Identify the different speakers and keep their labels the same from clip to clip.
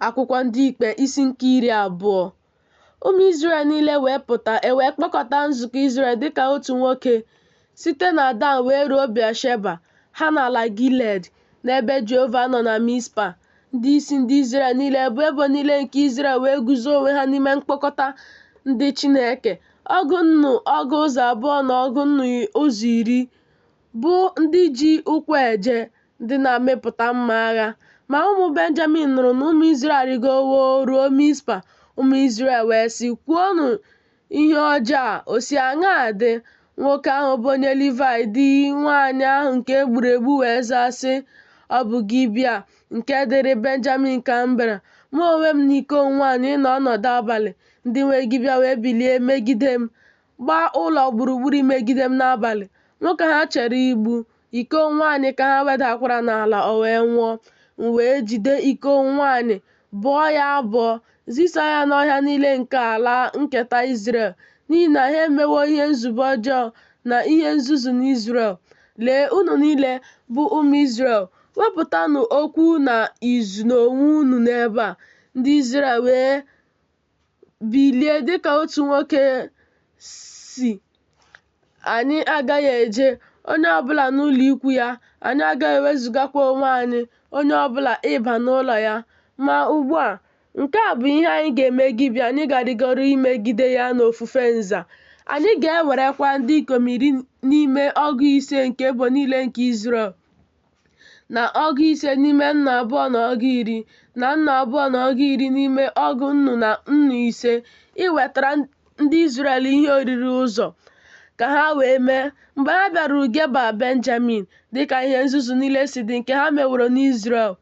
Speaker 1: Akwụkwọ Ndị Ikpe isi nke iri abụọ Ụmụ Izrel niile wee pụta, e wee kpọkọta nzukọ Izrel dịka otu nwoke, site na Dan wee ruo Bịasheba, ha na ala Gilead, n'ebe Jehova nọ na Mizpa. Ndị isi ndị Izrel niile bụ ebo niile nke Izrel wee guzo onwe ha n'ime mkpọkọta ndị Chineke, ọgụ nnu ọgụ ụzọ abụọ na ọgụ nnu ụzọ iri. bụ ndị ji ụkwụ eje, ndị na-amịpụta mma agha. Ma ụmụ Benjamin nụrụ na ụmụ Izrel arịgowo ruo Mizpa. Ụmụ Izrel wee sị, Kwuonụ ihe ọjọọ a, o si aṅaa dị? Nwoke ahụ bụ onye Livaị, di nwanyị ahụ nke e gburu egbu, wee zaa, sị, Ọ bụ Gibea, nke dịrị Benjamin ka m bịara. Mụ onwe m na iko m nwanyị ịnọ ọnọdụ abalị, ndị nwe Gibea wee bilie megide m. gbaa ụlọ gburugburu imegide m n'abalị. Mụ ka ha chere igbu, iko m nwaanyị ka ha wedakwara n'ala, o wee nwụọ. M wee jide iko m nwaanyị, bọọ ya abọ, zisa ya n'ọhịa niile nke ala nketa Izrel, n'ihi na ha emewo ihe nzube ọjọọ na ihe nzuzu n'Izrel. Lee, unu niile, bụ ụmụ Izrel, wepụtanụ okwu na izu n'onwe unu n'ebe a. Ndị Izrel wee bilie dịka otu nwoke sị anyị agaghị eje onye ọbụla n'ụlọ ikwu ya anyị agaghị ewezugakwa onwe anyị onye ọbụla ịba n'ụlọ ya ma ugbu a nke a bụ ihe anyị ga-eme Gibea anyị ga-arịgoro imegide ya n'ofufe nza anyị ga-ewerekwa ndị ikom iri n'ime ọgụ ise nke ebo niile nke Izrel na ọgụ ise n'ime nnu abụọ na ọgụ iri na nnu abụọ na ọgụ iri n'ime ọgụ nnu na nnu ise iwetara ndị Izrel ihe oriri ụzọ ka ha wee mee mgbe ha bịaruru Geba Benjamin dịka ihe nzuzu niile si dị nke ha meworo n'Izrel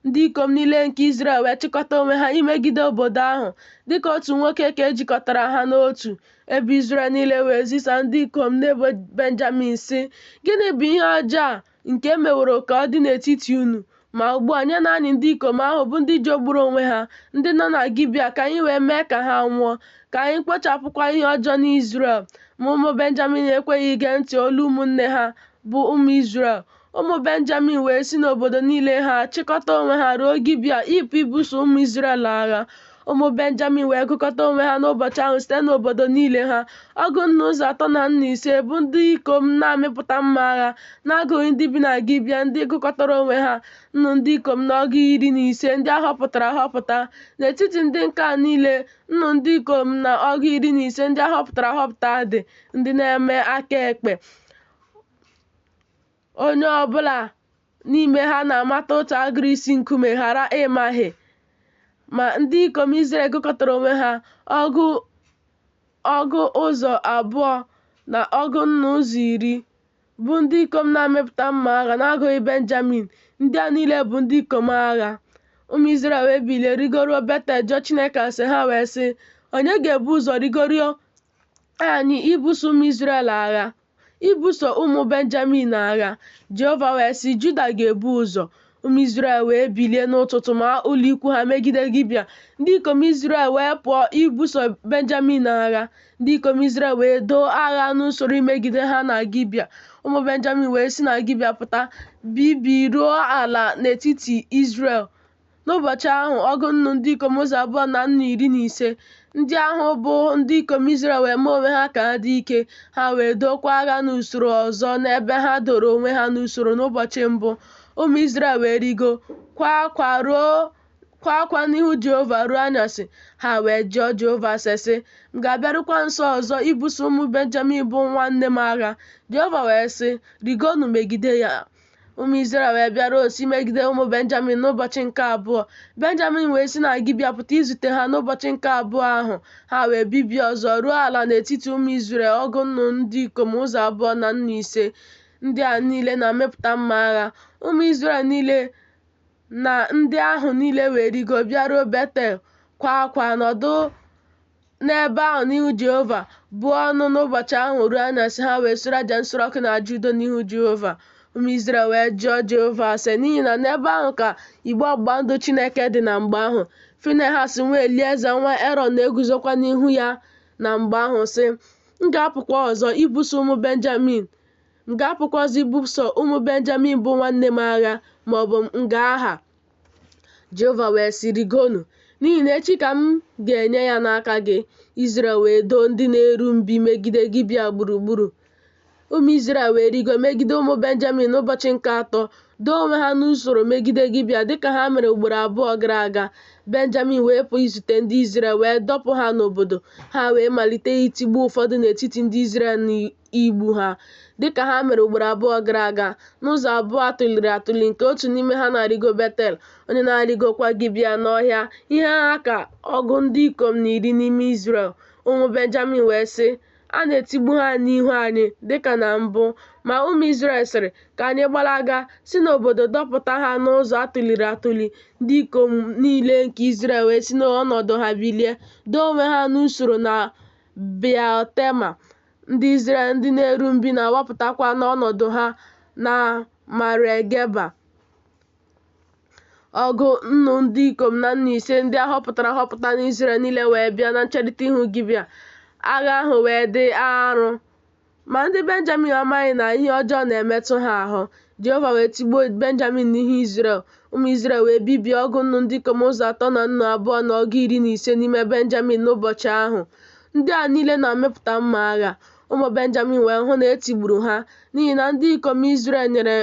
Speaker 1: ndị ikom niile nke Izrel wee chịkọta onwe ha imegide obodo ahụ dịka otu nwoke ka e jikọtara ha n'otu ebo Izrel niile wee zisa ndị ikom n'ebo Benjamin sị gịnị bụ ihe ọjọọ a nke e meworo ka ọ dị n'etiti unu, ma ugbu a nyenụ anyị ndị ikom ahụ bụ ndị jọgburu onwe ha, ndị nọ na Gibea, ka anyị wee mee ka ha nwụọ, ka anyị kpochapụkwa ihe ọjọọ n'Izrel. Ma ụmụ Benjamin ekweghị ige ntị olu ụmụnne ha, bụ ụmụ Izrel. Ụmụ Benjamin wee si n'obodo niile ha chịkọta onwe ha ruo Gibea ịpụ ibuso ụmụ Izrel agha. Ụmụ Benjamin wee gụkọta onwe ha n'ụbọchị ahụ site n'obodo niile ha, ọgụ nnu ụzọ atọ na nnu ise, bụ ndị ikom na-amịpụta mma agha, n'agụghị ndị bi na Gibea, ndị gụkọtara onwe ha, nnu ndị ikom na ọgụ iri na ise ndị a họpụtara ahọpụta. N'etiti ndị nke a niile, nnu ndị ikom na ọgụ iri na ise ndị a họpụtara ahọpụta dị, ndị na-eme aka ekpe. Onye ọ bụla n'ime ha na-amata otu agịrị isi nkume ghara ịmahie. Ma ndị ikom Izrel gụkọtara onwe ha ọgụ ụzọ abụọ na ọgụ nnu ụzọ iri, bụ ndị ikom na-amịpụta mma agha n'agụghị Benjamin. Ndị a niile bụ ndị ikom agha. Ụmụ Izrel wee bilie rigoruo Betel jụọ Chineke ase, ha wee sị, Onye ga-ebu ụzọ rigoro anyị ibuso ụmụ Izrel agha ibuso ụmụ Benjamin agha Jehova wee sị Juda ga-ebu ụzọ ụmụ Izrel wee bilie n'ụtụtụ maa ụlọ ikwu ha megide Gibia ndị ikom Izrel wee pụọ ibuso Benjamin agha ndị ikom Izrel wee doo agha n'usoro imegide ha na Gibia ụmụ Benjamin wee si na Gibia pụta bibie ruo ala n'etiti Izrel N'ụbọchị ahụ, ọgụ nnu ndị ikom ụzọ abụọ na nnu iri na ise ndị ahụ bụ ndị ikom Izrel wee mee onwe ha ka ha dị ike, ha wee dookwa agha n'usoro ọzọ n'ebe ha doro onwe ha n'usoro n'ụbọchị mbụ. Ụmụ Izrel wee rigo, kwaa akwa n'ihu Jehova ruo anyasị, ha wee jụọ Jehova ase sị, M ga-abịarukwa nso ọzọ ibuso ụmụ Benjamin bụ nwanne m agha? Jehova wee sị, Rigonụ megide ya. ụmụ Izrel wee bịaruo nso imegide ụmụ Benjamin n'ụbọchị nke abụọ Benjamin wee si na Gibia pụta izute ha n'ụbọchị nke abụọ ahụ ha wee bibie ọzọ ruo ala n'etiti ụmụ Izrel ọgụ nnu ndị ikom ụzọ abụọ na nnu ise ndị a niile na-amịpụta mma agha ụmụ Izrel niile na ndị ahụ niile wee rigo bịaruo Betel kwaa akwa nọdụ n'ebe ahụ n'ihu Jehova, buo ọnụ n'ụbọchị ahụ ruo anyasị, ha wee sure aja nsure ọkụ na aja udo n'ihu Jehova. Ụmụ Izrel wee jụọ Jehova ase n'ihi na n'ebe ahụ ka igbe ọgbụgba ndụ Chineke dị na mgbe ahụ. Finehas nwa Elieza nwa Erọn na-eguzokwa n'ihu ya na mgbe ahụ sị, M ga-apụkwa ọzọ ibuso ụmụ Benjamin m ga-apụkwa ọzọ ibuso ụmụ Benjamin bụ nwanne m agha ma ọ bụ m ga-aha. Jehova wee sị, Rịgonụ, n'ihi na echi ka m ga-enye ya n'aka gị. Izrel wee doo ndị na-eru mbi megide Gibea gburugburu. Ụmụ Izrel wee rigo megide ụmụ Benjamin n'ụbọchị nke atọ, doo onwe ha n'usoro megide Gibea dịka ha mere ugboro abụọ gara aga. Benjamin wee pụọ izute ndị Izrel wee dọpụ ha n'obodo, ha wee malite itigbu ụfọdụ n'etiti ndị Izrel igbu ha dịka ha mere ugboro abụọ gara aga n'ụzọ abụọ atụliri atụli nke otu n'ime ha na-arịgo Betel, onye na-arịgokwa Gibea n'ọhịa. Ihe ha ka ọgụ ndị ikom na iri n'ime Izrel, ụmụ Benjamin wee sị, A na-etigbu ha n'ihu anyị dịka na mbụ. Ma ụmụ Izrel sịrị, Ka anyị gbalaga, si n'obodo dọpụta ha n'ụzọ atụliri atụli. Ndị ikom niile nke Izrel wee si n'ọnọdụ ha bilie, doo onwe ha n'usoro na Beal-tema. Ndị Izrel ndị na-eru mbi na-awapụtakwa n'ọnọdụ ha na Maregeba. Ọgụ nnu ndị ikom na nnu ise ndị a họpụtara ahọpụta n'Izrel niile wee bịa na ncherịta ihu Gibea. Agha ahụ wee dị arụ. Ma ndị Benjamin amaghị na ihe ọjọọ na-emetụ ha ahụ. Jehova wee tigbuo Benjamin n'ihu Izrel, Ụmụ Izrel wee bibie ọgụ nnu ndị ikom ụzọ atọ na nnu abụọ na ọgụ iri na ise n'ime Benjamin n'ụbọchị ahụ. Ndị a niile na-amịpụta mma agha. Ụmụ Benjamin wee hụ na e tigburu ha, n'ihi na ndị ikom Izrel nyere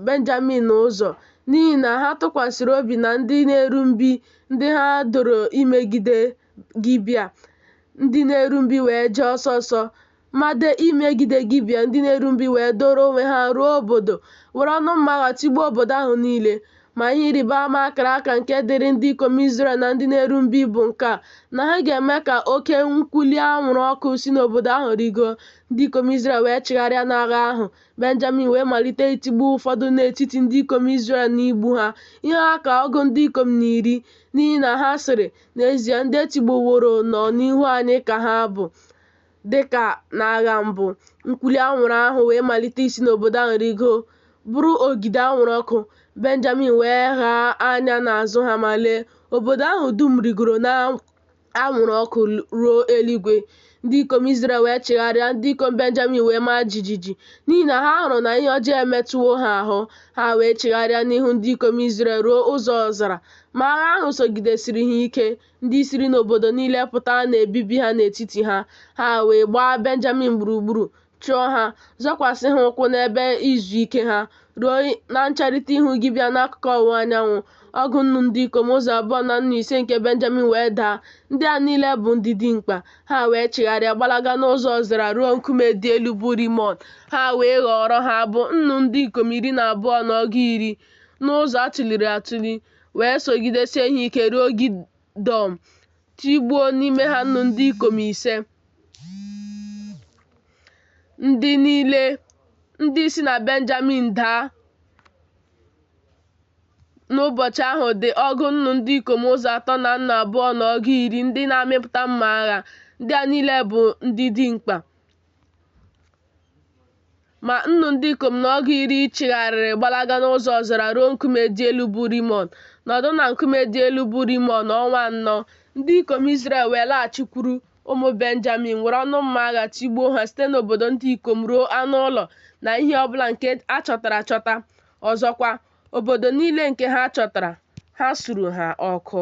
Speaker 1: Benjamin ụzọ, n'ihi na ha tụkwasịrị obi na ndị na-eru mbi ndị ha doro imegide Gibea. Ndị na-eru mbi wee jee ọsọ ọsọ made imegide Gibea, ndị na-eru mbi wee doro onwe ha ruo obodo, were ọnụ mma agha tigbuo obodo ahụ niile. Ma ihe ịrịba ama a kara aka nke dịrị ndị ikom Izrel na ndị na-eru mbi bụ nke a, na ha ga-eme ka oke nkwuli anwụrụ ọkụ si n'obodo ahụ rịgoo. Ndị ikom Izrel wee chigharịa n'agha ahụ, Benjamin wee malite itigbu ụfọdụ n'etiti ndị ikom Izrel na igbu ha, ihe ha ka ọgụ ndị ikom na iri, n'ihi na ha sịrị, N'ezie, ndị e tigbuworo nọ n'ihu anyị ka ha bụ. Dịka n'agha mbụ, nkwuli anwụrụ ahụ wee malite isi n'obodo ahụ rigo, bụrụ ogidi anwụrụ ọkụ. Benjamin wee ghaa anya n'azụ ha ma lee, obodo ahụ dum rigoro n'anwụrụ ọkụ ruo eluigwe. Ndị ikom Izrel wee chigharịa, ndị ikom Benjamin wee maa jijiji, n'ihi na ha hụrụ na ihe ọjọọ emetụwo ha ahụ. Ha wee chigharịa n'ihu ndị ikom Izrel ruo ụzọ ọzara. Ma agha ahụ sogidesiri ha ike. Ndị siri n'obodo niile pụta na-ebibi ha n'etiti ha, ha wee gbaa Benjamin gburugburu, chụọ ha, zọkwasị ha ụkwụ n'ebe izu ike ha, ruo na ncherịta ihu Gibea n'akụkụ ọwụwa anyanwụ. Ọgụ nnu ndị ikom ụzọ abụọ na nnu ise nke Benjamin wee daa. Ndị a niile bụ ndị dimkpa. Ha wee chigharịa gbalaga n'ụzọ ọzara ruo nkume dị elu bụ Rimọn. Ha wee ghọọrọ ha, bụ nnu ndị ikom iri na abụọ na ọgụ iri, n'ụzọ a tụliri atụli. wee sogidesie ha ike ruo Gidọm, tigbuo n'ime ha nnu ndị ikom ise. Ndị niile ndị si na Benjamin daa n'ụbọchị ahụ dị ọgụ nnu ndị ikom ụzọ atọ na nnu abụọ na ọgụ iri ndị na-amịpụta mma agha. Ndị a niile bụ ndị dimkpa. Ma nnu ndị ikom na ọgụ iri chigharịrị gbalaga n'ụzọ ọzara ruo nkume dị elu bụ Rimọn, nọdụ na nkume dị elu bụ Rimọn ọnwa anọ. Ndị ikom Izrel wee laghachikwuru ụmụ Benjamin, were ọnụ mma agha tigbuo ha site n'obodo ndị ikom ruo anụ ụlọ na ihe ọ bụla nke a chọtara achọta. Ọzọkwa, obodo niile nke ha chọtara, ha suru ha ọkụ.